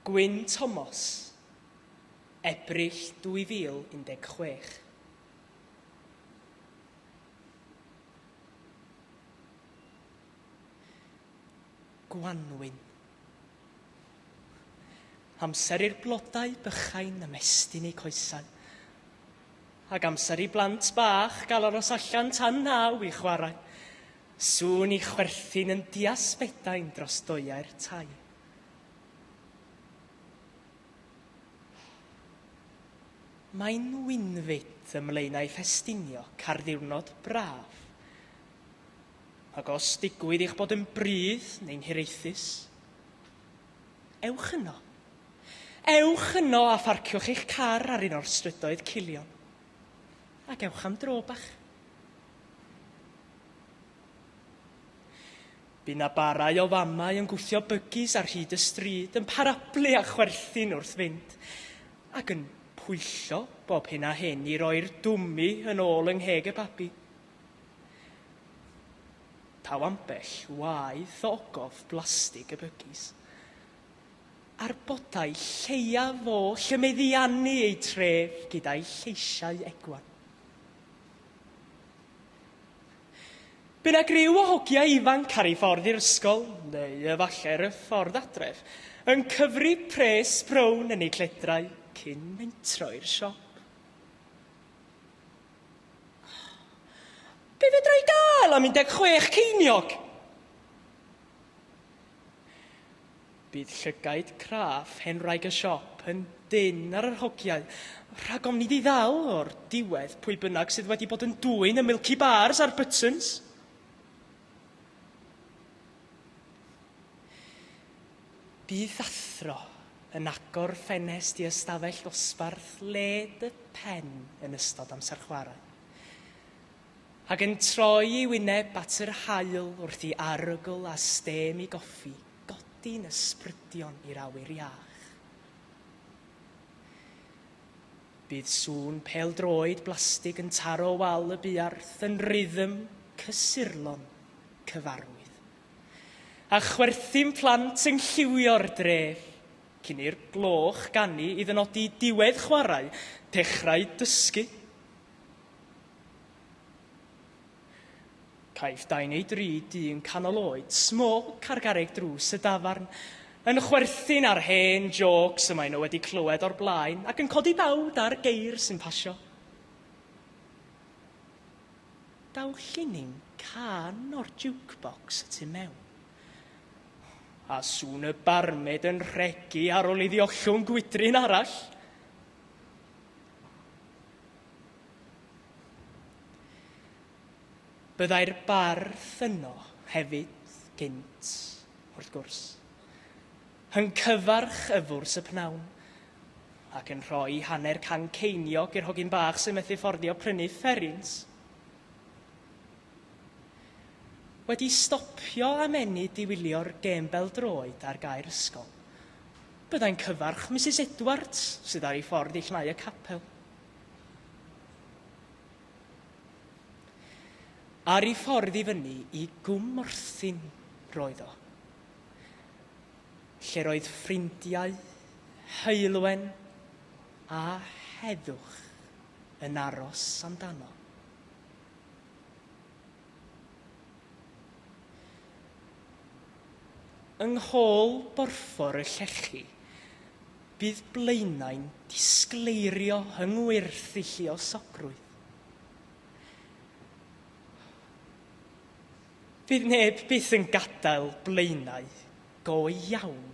Gwyn Thomas, Ebrill 2016. Gwanwyn. Amser i'r blodau bychain ymestyn eu coesau, ac amser i blant bach gael aros allan tan naw i chwarae. Sŵn i chwerthin yn diasbedain dros doeau'r tai. Mae Nwynfyd ym Mlaenau Ffestiniog, carddiwrnod braf. Ac os digwydd i'ch bod yn brudd neu'n hiraethus, ewch yno. Ewch yno a pharciwch eich car ar un o'r strydoedd culion. Ac ewch am dro bach. Bu na barau o famau yn gwthio bygis ar hyd y stryd, yn parablu a chwerthin wrth fynd, ac yn pwyllo bob hyn a hyn i roi'r dwmmi yn ôl yng ngheg y babi. Taw ambell waith o ogof blastig y bygis. a'r bodau lleiaf oll y meddiannu eu tref gyda'i lleisiau egwan. Be na griw o hogiau ifanc ar ei ffordd i'r ysgol, neu efallai ar y ffordd adref, yn cyfri pres brown yn eu cledrau cyn mentro i'r siop. Be fedra i gael am 16 ceiniog? Bydd llygaid craff hen wraig y siop yn dynn ar yr hogiau, rhag ofn iddi ddal o'r diwedd pwy bynnag sydd wedi bod yn dwyn y Milky Bars a'r Buttons. Bydd athro yn agor ffenest i ystafell ddosbarth led y pen yn ystod amser chwarae. Ac yn troi ei wyneb at yr haul wrth i arogl a stêm i goffi godi'n ysbrydion i'r awyr iach. Bydd sŵn pêl-droed blastig yn taro wal y buarth yn rythm cysurlon cyfarwydd. A chwerthin plant yn lliwio'r dref, cyn i'r gloch ganu i ddynodi diwedd chwarae, dechrau dysgu. Caiff dau neu dri dyn canol oed, small, cargareg drws y dafarn, yn chwerthin ar hen jôcs y maen nhw wedi clywed o'r blaen ac yn codi bawd ar geir sy'n pasio. Daw llinyn cân o'r jukebox y tu mewn, a sŵn y barmêd yn rhegi ar ôl iddi ollwng gwydryn arall. Byddai'r bardd yno hefyd gynt, wrth gwrs, yn cyfarch yfwrs y pnawn, ac yn rhoi hanner can ceiniog i'r hogyn bach sy'n methu fforddio prynu fferins. Wedi stopio a menu diwylio'r gêm bel-droed ar gae'r ysgol, byddai'n cyfarch Misus Edwards, sydd ar ei ffordd i llnau y capel. Ar ei ffordd i fyny i Gwm Morthyn roedd o, lle'r oedd ffrindiau, Heulwen a Heddwch yn aros amdano. Yng nghôl borffor y llechi, Bydd Blaenau'n disgleirio yng ngwerthu lluosogrwydd. Fydd neb byth yn gadael Blaenau go iawn.